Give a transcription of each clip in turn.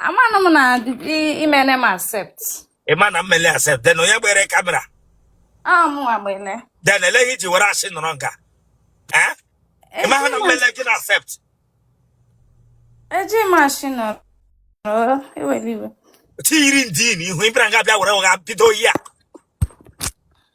amanụ m na imene m accept ịma na mmele accept then onye gbere kamera amụwa gbene then ele ihi i ji were ashị nọrọ nga eh? ịma ha na mmele gị na accept eji m ashị nọrọ ewere iwe tiyiri ndị n'ihu ịbịara nga bịa were ụgha bido ihe a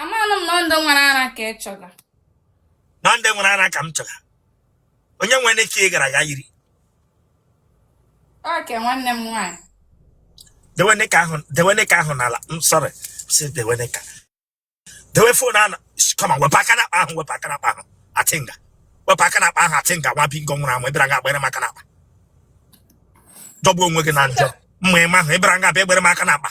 amanụ m na ọ ndị nwere ara ka ị chọga na ndị nwere ara ka m chọga onye nwere ike ị gara ga yiri okay nwanne m nwaanyị dewene aka ahụ dewene aka ahụ n'ala I'm sorry sis dewene aka dewe fon ahụ come on wepụ aka n'akpa ahụ wepụ aka n'akpa ahụ atinga wepụ aka n'akpa ahụ atinga nwa bingo nwụrụ anwụ ịbịara nga agbanyere m aka n'akpa jọgbuo onwe gị na njọ mma ịma ahụ ịbịara nga abịa egbere m aka n'akpa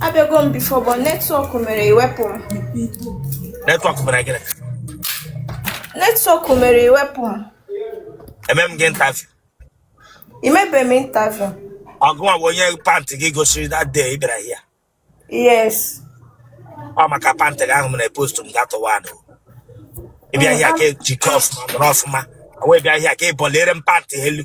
abịago m before but network mere e wepụ m network mere gịnị network mere e wepụ m eme m gị interview i mebe m interview ọ gịnwa bụ onye pantị gị gosiri that day ị bịara here yes ọ maka pantị gị ahụ mere post m gatụwa anụ ị bịa here ka e jikọ ọfụma nọrọ ọfụma wee bịa here ka ị buliere m pantị elu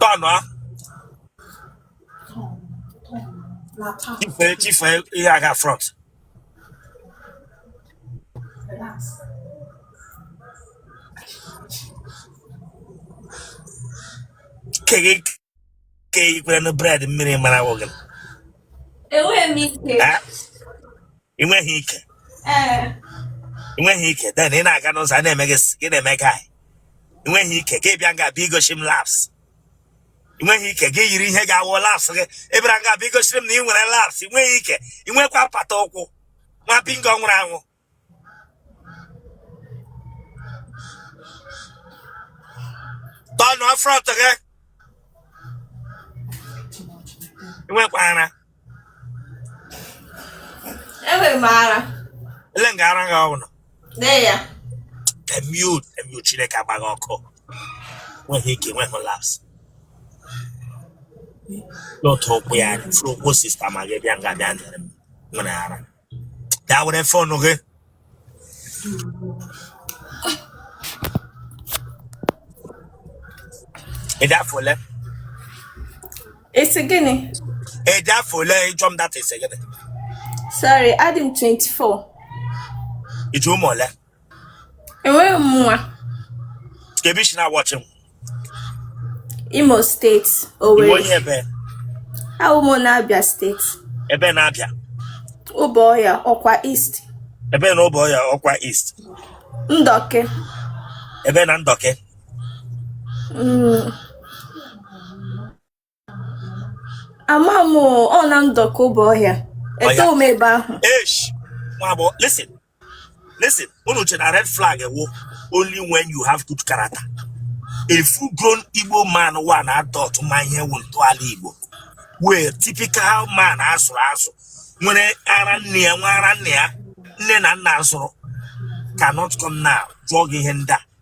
tọnụ a chifee chifee ihe a gaa front keghe ke i kwere na bread mmiri mara awụ gị enweghị m ike Eh? ị nweghị ike ee ị nweghị ike then ị na-aga n'ụzọ a na-eme gị s- gị na-eme guy ị nweghị ike gị bịa nga bịa igoshi m laps ị nweghị ike gị yiri ihe ga-awụ laps gị ị bịara nga bịa igosiri m na ị nwere laps ị nweghị ike ị nwekwa apata ụkwụ nwa bingo nwụrụ anwụ tọnụọ front gị ị nwekwa ara enwere m ara ele nga ara gị ọbụla dee ya emiu emiu chineke agba gị ọkụ nweghị ike nweghị laps n'otu ụkwụ ya furu ụkwụ sista ma gị bịa nga bịa nere m nwere ara dewere fon gị ịdị afọ ole Ị sị gịnị? ịdị afọ ole ị jụọ m that ị sị gịnị Sorry, adị m 24. iji ụmụ ole enweghị m nwa ka ebe i si na-awọchị m imo steeti ị wụ onye owere ebe awụ m na abia steeti ebe na-abịa ụbọ ọya ọkwa east ebe na ụbọ ya ọkwa east ndọke ebe na ndọke mm, ama m ọ na ndoki obohia eto m ebe ahụ esh nwa agbọghọ listen listen unu che na red flag wụ only when you have good character a full grown igbo man wụ an adult ma ihe wụ ntọala igbo wụ typical man a zụrụ azụ nwere ara nne ya nwa ara nne ya nne na nna zụrụ cannot come now jụọ gị ihe ndị a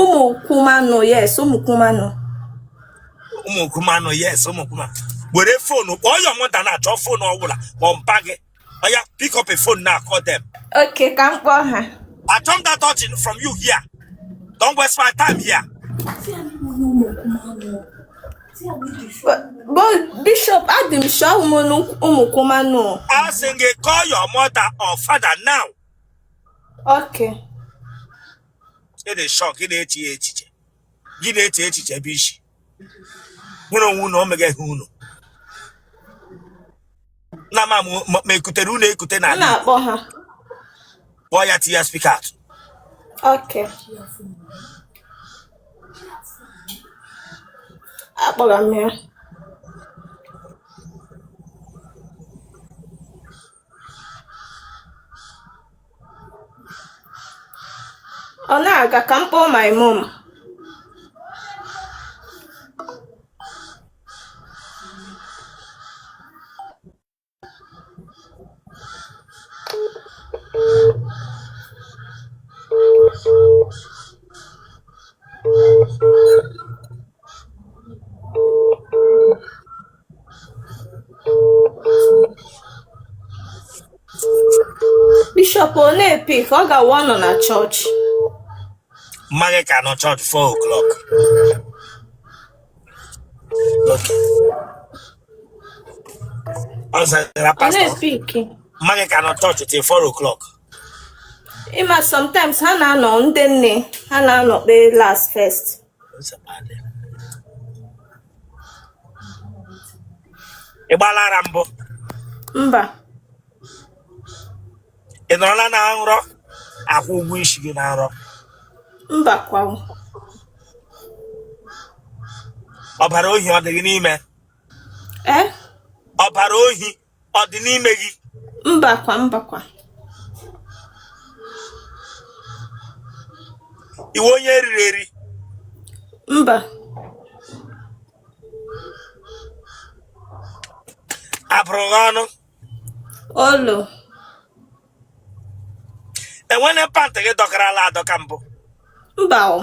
ụmụ kwumanụ yes ụmụ kwumanụ ụmụ kwumanụ yes ụmụ kwumanụ. were fonu call your mother now chọọ fonu ọbụla ma ọ mpa gị ọya pick up a phone now call them okay ka m kpọọ ha achọ m that touching from you here don't waste my time here but bishop adị m sure ụmụ ụmụ kwumanụ asị m gị call your mother or father now Okay. ị dị sure ị na-eche ya echiche gị na-eche echiche ebe i si nwere onwe unu o megaghị unu na ma mụ- ma ma ekutere unu ekute M n'ala Igbo na-akpọ ha. kpọọ ya tinye ya speak out Okay. Akpọrọ m ya. ọ na-aga ka m kpọọ my mom bishọp ọ na-epick ọ ga-awụ ọ nọ na chọọchị mma gị ka nọ chọọchị 4 o'clock okay ọ zara ọ pastọ na-epick mma gị ka nọ chọọchị till 4 o'clock ịma sometimes ha na-anọ ndị nne ha na-anọ kpee last first ị gbala ara mbụ mba ị nọrọla na nrọ akwụ ụgwọ isi gị na nrọ mba kwanụ ọbara ohi ọ dị gị n'ime ee ọbara ohi ọ dị n'ime gị mbakwa mbakwa ị wụ onye eriri eri mba abụrụ gị ọnụ olo enwene pant gị dọkarala adọka mbụ mba o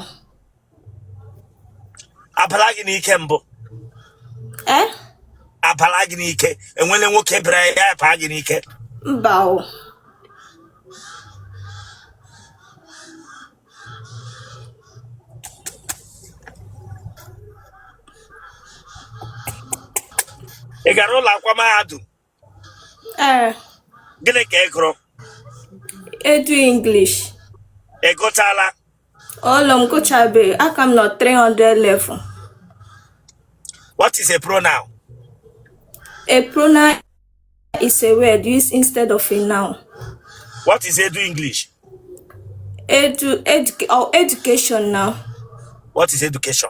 abala gị n'ike mbụ eh? abala gị n'ike enwene nwoke bịara ya abaa gị n'ike mba o ị gara ụlọ akwụkwọ mahadum Ee, gịnị ka ị gụrụ edu English. ị gụchala Olo m gụchabe, aka m nọ 300 level. what is a pronoun A pronoun is a word used instead of a noun. what is edu english Edu, educa or education now. what is education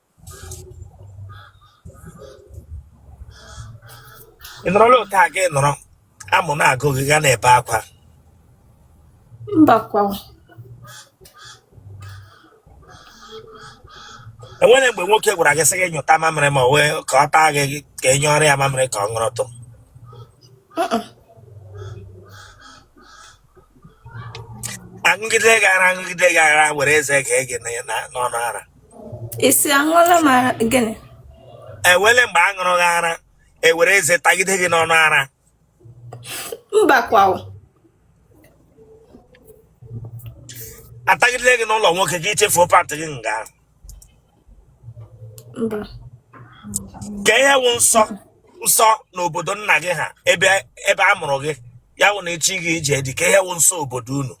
ị nọrọla otu a gị nọrọ amụ na-agụ gị ga na-ebe akwa mbakwa enwene mgbe nwoke gwara gị sị gị nyụta mamịrị ma ọ wụ ka ọ taa gị ka ị nyụọrọ ya mamịrị ka ọ ṅụrụtụ Uh-uh. aṅụgide gị ara aṅụgide gị ara were eze gee gị na- na- n'ọnụ ara ị sị aṅụọla m ara gịnị enwele mgbe a ṅụrụ gị ara ewere eze tagide gị n'ọnụ ara mba kwa o. atagide gị n'ụlọ nwoke gị echefuo pantị gị nga ahụ ka ihe wụ nsọ nsọ n'obodo nna gị ha ebe ebe a mụrụ gị ya wụ na echi gị ije dị ka ihe wụ nsọ obodo unu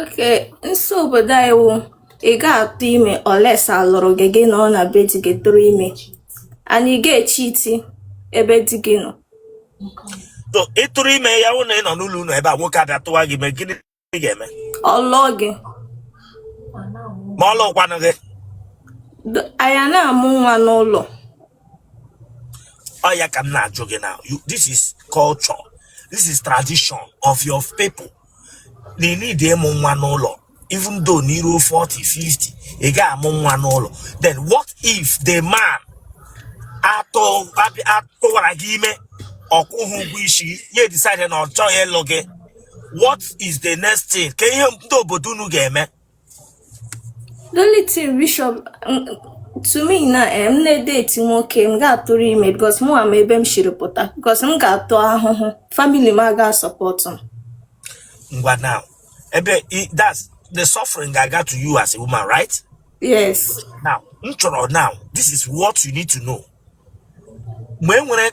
okay nsọ obodo anyị wụ ị ga-atụ ime unless a lụrụ gị gị nọọ na be di gị tụrụ ime and ị ga-echeati ebe di gị nọ ịtụrụ ime ya wụ na ị nọ n'ụlọ unu ebe a nwoke abịa tụwa gị ime gịnị ị ga-eme ọ lụọ gị ma ọ lụkwanụ gị D- anyị a na-amụ nwa n'ụlọ ọ ya ka m na-ajụ gị na you- this is culture this is tradition of your people na ị need ịmụ nwa n'ụlọ even though na i ru 40 50 ị ga-amụ nwa n'ụlọ then what if the man atụ abị- atụwara gị ime ọ kwụghị ụgwọ isi gị ya decide na ọ chọghị ịlụ gị what is the next thing kee ihe ndị obodo unu ga-eme the only thing bishop mm, to me na eh, m na-edeti nwoke m ga-atụrụ ime because mụ ama ebe m shiri pụta because m ga-ata ahụhụ family m aga sọpọtụ m ngwa now ebe i- that's the suffering ga-aga to you as a woman right yes now m chọrọ now this is what you need to know mgbe e nwere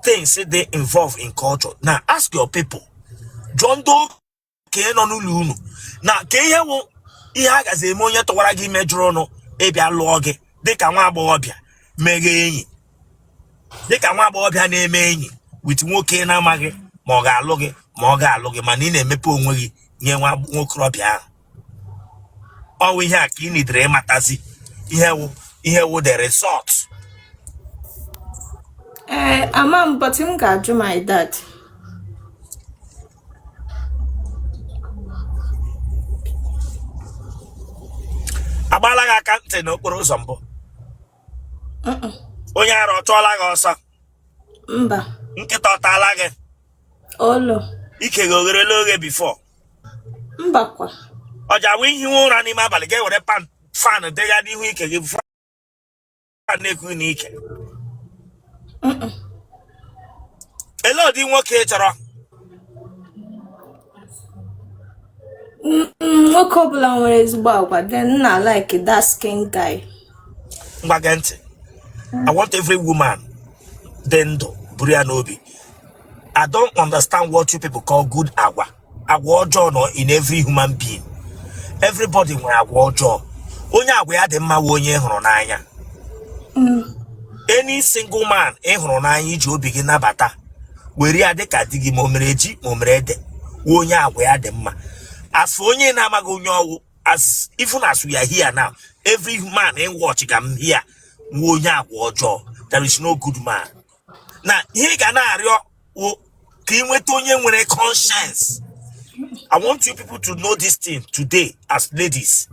things they involve in culture now ask your people jụọ ndị okenye nọ n'ụlọ unu na kee ihe wụ ihe a gazi eme onye tụwara gị ime jụrụnụ ịbịa lụọ gị dịka nwa agbọghọbịa meghe enyi dịka nwa agbọghọbịa na-eme enyi with nwoke na-amaghị ma ọ ga-alụ gị ma ọ ga-alụ gị mana ị na-emepe onwe gị nye nwa nwokorobịa ahụ ọwụ ihe a ka ị nidere ịmatazi ihe wụ the result ee eh, ama m but m ga-ajụ my dad a gbaala gị aka ntị n'okporo ụzọ mbụ onye ara ọ chụọla gị ọsọ mba nkịta ọ taala gị olo ike gị o gherela oghe before mbakwa o ji awụ i hiwe ụra n'ime abalị ga-ewere pan fan degha n'ihu ike gị fan na-eku n'ike elee ụdị nwoke ị chọrọ nwoke ọbụla nwere ezigbo agwa then m na like dark skin guy ngwa gee ntị i want every woman dị ndụ buru ya n'obi I don't understand what you people call good agwa. Agwa ọjọọ nọ in every human being. Everybody nwere agwa ọjọọ. Onye agwa ya dị mma wụ onye ị hụrụ n'anya. Any single man ị hụrụ n'anya i ji obi gị nabata were ya dịka di gị ma o mere ji ma o mere ede wụ onye agwa ya dị mma. As for onye na-amaghị onye ọwụ as even as we are here now every man in watch ga m here wụ onye agwa ọjọọ. There is no good man. now ihe ị ga na-arịọ wụ ka ị nweta onye nwere conscience i want you people to know this thing today as ladies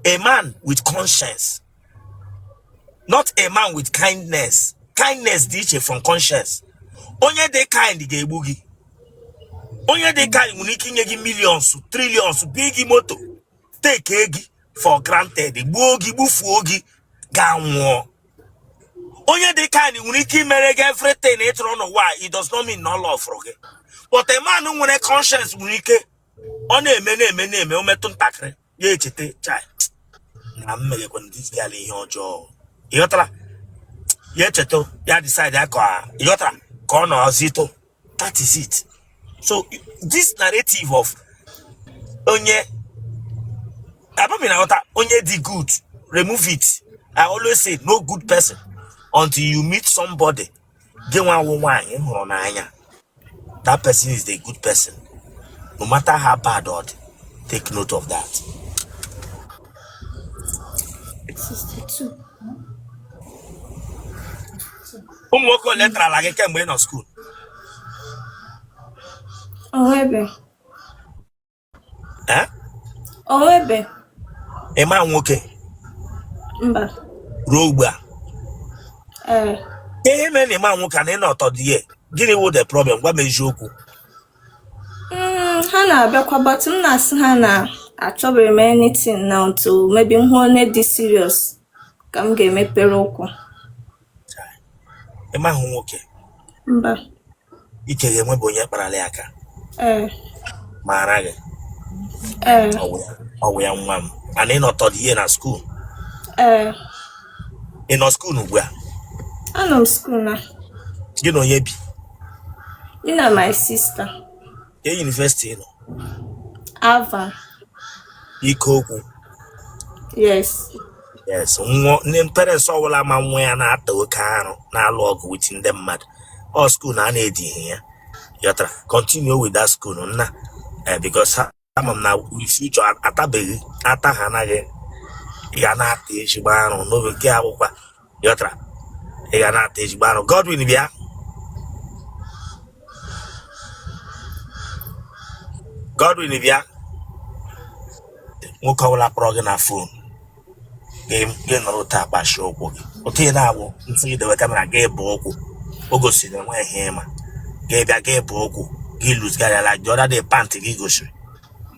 a man with conscience not a man with kindness kindness dị iche from conscience onye dị kind ga-egbu gị onye dị kind nwere ike inye gị millions trillions big moto take gị for granted gbuo gị gbufuo gị gị anwụọ onye dị kind nwere ike imere gị everything ị chọrọ n'ụwa a, it does not mean na ọ lọfụrụ gị but a man nwere conscience nwere ike ọ na-eme na-eme na-eme o metụ ntakịrị ya echeta chai na m meghekwa this girl ihe ọjọọ ịghọtara ya echeta ya decide ya ka ịghọtara ka ọ nọzitụ that is it so this narrative of onye abami na ọta onye dị good remove it i always say no good person until you meet somebody gị nwa wụ nwaanyị hụrụ n'anya that person is the good person no matter how bad or take note of that 62 ụmụ nwoke ole tarala gị kemgbe ị nọ skuul O nwebe. Eh? O nwebe. Ị ma nwoke? Mba. Ruo ugbu a? Ee. Eh. Ihe mere na ị ma nwoke and ị nọ third year, gịnị wụ the problem? Gwa m eziokwu. Hmm, ha na-abịakwa but m na-asị ha na achọbeghị m anything now until maybe m hụ onye dị serious. ka m ga-emepere ụkwụ ị mahụ nwoke mba ike gị e nwebu onye kparala ya aka ee maara gị ee ọ wụ ya nwa m and ị nọ third year na skuul ee ị nọ skuul ugbu a anọ m skuul na gị na onye bi gị na my sister Ke yunivesiti ị nọ? Alvan. Ikoku. Yes. Yes. Nwa ndị parents ọbụla ma nwa ya na-ata oke arụ na-alụ ọgụ with ndị mmadụ. Ọ skuul na a na-edi ihe ya. Ị ghọtara. Continue with that school nna. Eh, because ama m na future a- atabeghị ata ha anaghị ya na-ata ezigbo arụ n'oge nke akwụkwọ ị ghọtara ị ga na-ata ezigbo arụ Godwin bịa Godwin bịa nwoke ọbụla kpọrọ gị na fon gị nọrọ otu a kpachie ụkwụ gị otu ị na-awụ ntị gị dewe kamera gaba ụkwụ o gosiri na enweghị ihe ị ma gị bịa gaba ụkwụ ị lose guardịala gị ọda dị pantị gị gosiri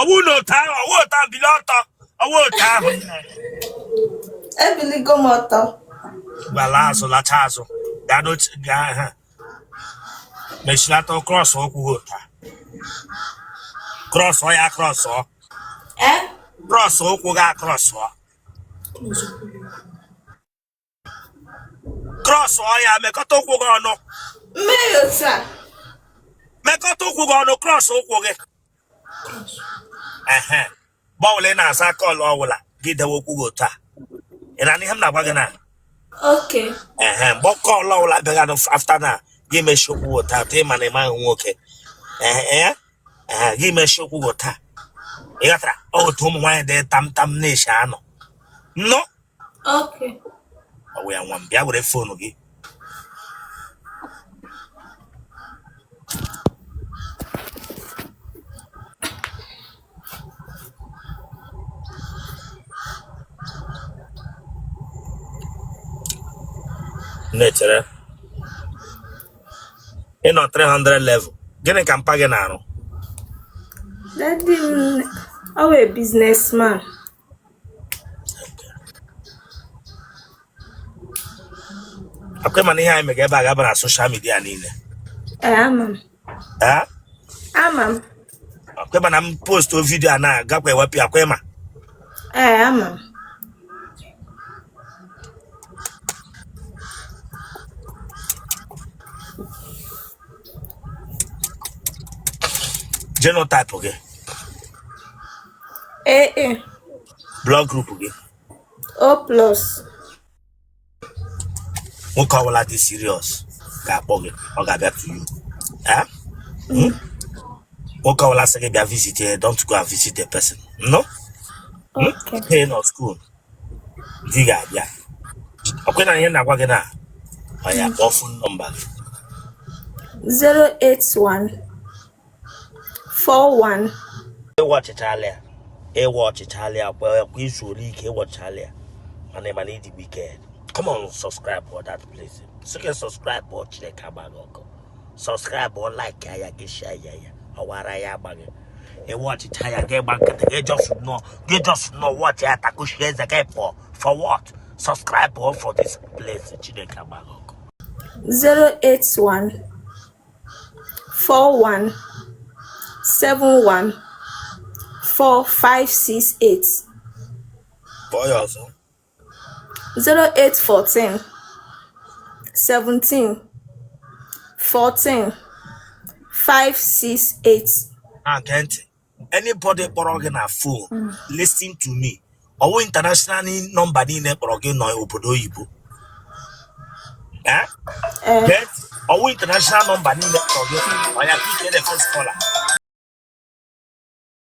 ọwụ na otu ahụ ọwụ otu ahụ bili ọtọ ọwụ otu ahụ ebiligo m ọtọ gbala azụ lacha azụ gaa n'oche gaa ha mechilata krọs ụkwụ gị otu a krọsọ ya krọs ọ ee krọs ụkwụ gị akrọs ọ krọsọ ya mekọta ụkwụ gị ọnụ mekọta ụkwụ gị ọnụ krọs ụkwụ gị mgbe ọwụla ị na-aza kọl ọwụla gị dewe ụkwụ gị otu a ị nụ ihe m na-agwa gị na ehe mgbe kọl ọwụla bịaga afta na gị mechie ụkwụ gị otu a tụ ịma na ị maghị nwoke ee gị mechie ụkwụ gị otu a ị ghọtara otu ụmụ nwaanyị dị tam tam na-eshi anọ Okay. Ọ wụ ya nwa m bịa were foonu gị. Nne chere ị nọ 300 level gịnị ka mpa gị na-arụ? Daddy m ọ wụ businessman. akwa ị ma na ihe anyị mega ebe a ga-aba na social media niile Ee, ama m. ee Ama m. akwa ị ma na m postuo video a na-agakwa ewepụ ya akwa ị ma Ee, ama m. genotype gị AA blood group gị O plus nwoke ọbụla dị serious ga-akpọ gị ọ ga-abịa to you Eh? Hmm? nwoke ọbụla sị gị bịa visit ya don't go and visit the person no okay. Hey, not school di ga-abịa ọkwa ị nụ ihe m na-agwa gị na oya kpọọ fon nọmba gị 081 41 ị watchịchala ya ị watchịchala ya kwa kwa i zuole ike ị watchịchala ya mana ị ma na ị dị wicked come on subscribe for that place sị gị subscribe o Chineke agba gị ọkụ subscribe o like ya gị share ya ya ọwara ya agbaghị ị watchịcha ya gị gba nkịtị gị just nọ gị just nọ watchị ya takushi eze gị pụọ for what subscribe for this place Chineke agba gị ọkụ 081 41 71 4568 kpọọ ya ọzọ 0814 17 14 568 nne gee ntị anybody kpọrọ gị na fon mm. listen to me ọwụ international nọmba niile kpọrọ gị nọ obodo oyibo eh? Eh. gee ntị ọwụ international nọmba niile kpọrọ gị oya ka ị pick first caller